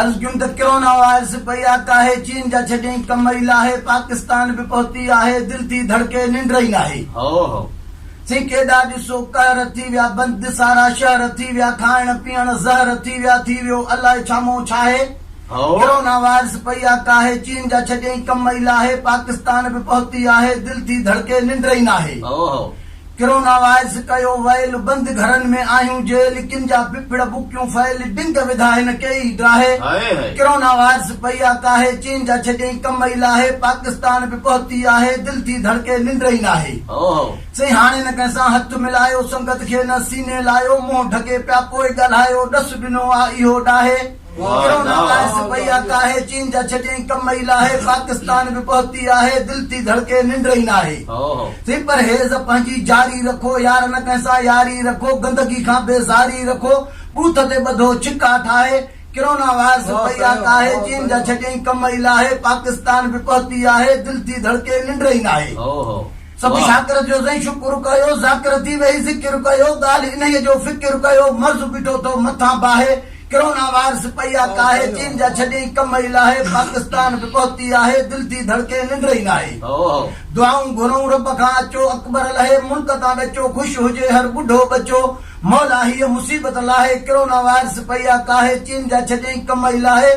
عرض ڪيم ته ڪرونا وائرس پئي آ ڪاهي چين جا ڇڏيئين ڪم ئي لاهي پاڪستان به پهتي آهي دل ٿي ڌڙڪي ننڊ ئي ناهي هئو هئو سين ڪيڏا ڏسو قهر ٿي ويا بند سارا شهر ٿي ويا کائڻ پيئڻ زهر ٿي ويا ٿي ويو الائي ڇامون ڇاهي هئو. ڪرونا وائرس پئي آ ڪاهي چين جا ڇڏيئين ڪم ئي لاهي پاڪستان به پهتي آهي دل ٿي ڌڙڪي ننڊ ئي ناهي هئو هئو. ڪروناوائرس ڪيو ويل بند گهرن ۾ آهيون جيل ڪن جا ڦڦڙ بڪيون ڦهيل ڊنگ وڌا هن ڪئي ئي ڊاهي ڪرونا وائرس پئي آ ڪاهي چين جا ڇڏيئي ڪم ئي لاهي پاڪستان به پهتي آهي دل ٿي ڌڙڪي ننڊ ئي ناهي سائين هاڻي نه ڪنهن سان هٿ ملايو سنگت کي نه سيني لايو منهن ڍڪي پيا پوء ڳالهايو ڏس ڏنو آ اهو ڊاهي ڪرونا باعث پئي آ ڪاهي، چين جا ڇٽيائين ڪم ئي لاهي، پاڪستان به پهتي آهي، دل ٿي ڌڙڪي ننڊ ئي ناهي، ٿي پرهيز پنهنجي جاري رکو، يار نه ڪنهن سان ياري رکو، گندگي کان بيزاري رکو، بوٿ تي ٻڌو ڇڪا ٺاهي، ڪرونا باعث پئي آ ڪاهي، چين جا ڇٽيائين ڪم ئي لاهي، پاڪستان به پهتي آهي، دل ٿي ڌڙڪي ننڊ ئي ناهي. سڀ شاڪر جو سائين شڪر ڪيو ذاڪر ٿي ويهي ذڪر ڪيو ڳالهه انهيء جو فڪر ڪيو مرض بيٺو ٿو مٿان باهي ڪرونا وائرس پئي آ ڪاهي چين جا ڇڏيئي ڪم ئي لاهي پاڪستان به پهتي آهي دل ٿي ڌڙڪي ننڊ ئي ناهي دعائون گهرئون رب کان اچو اڪبر لهي ملڪ تان ڏچو خوش هجي هر ٻڍو ٻچو مولا هيء مصيبت لاهي ڪرونا وائرس پئي آ ڪاهي چين جا ڇڏيئي ڪم ئي لاهي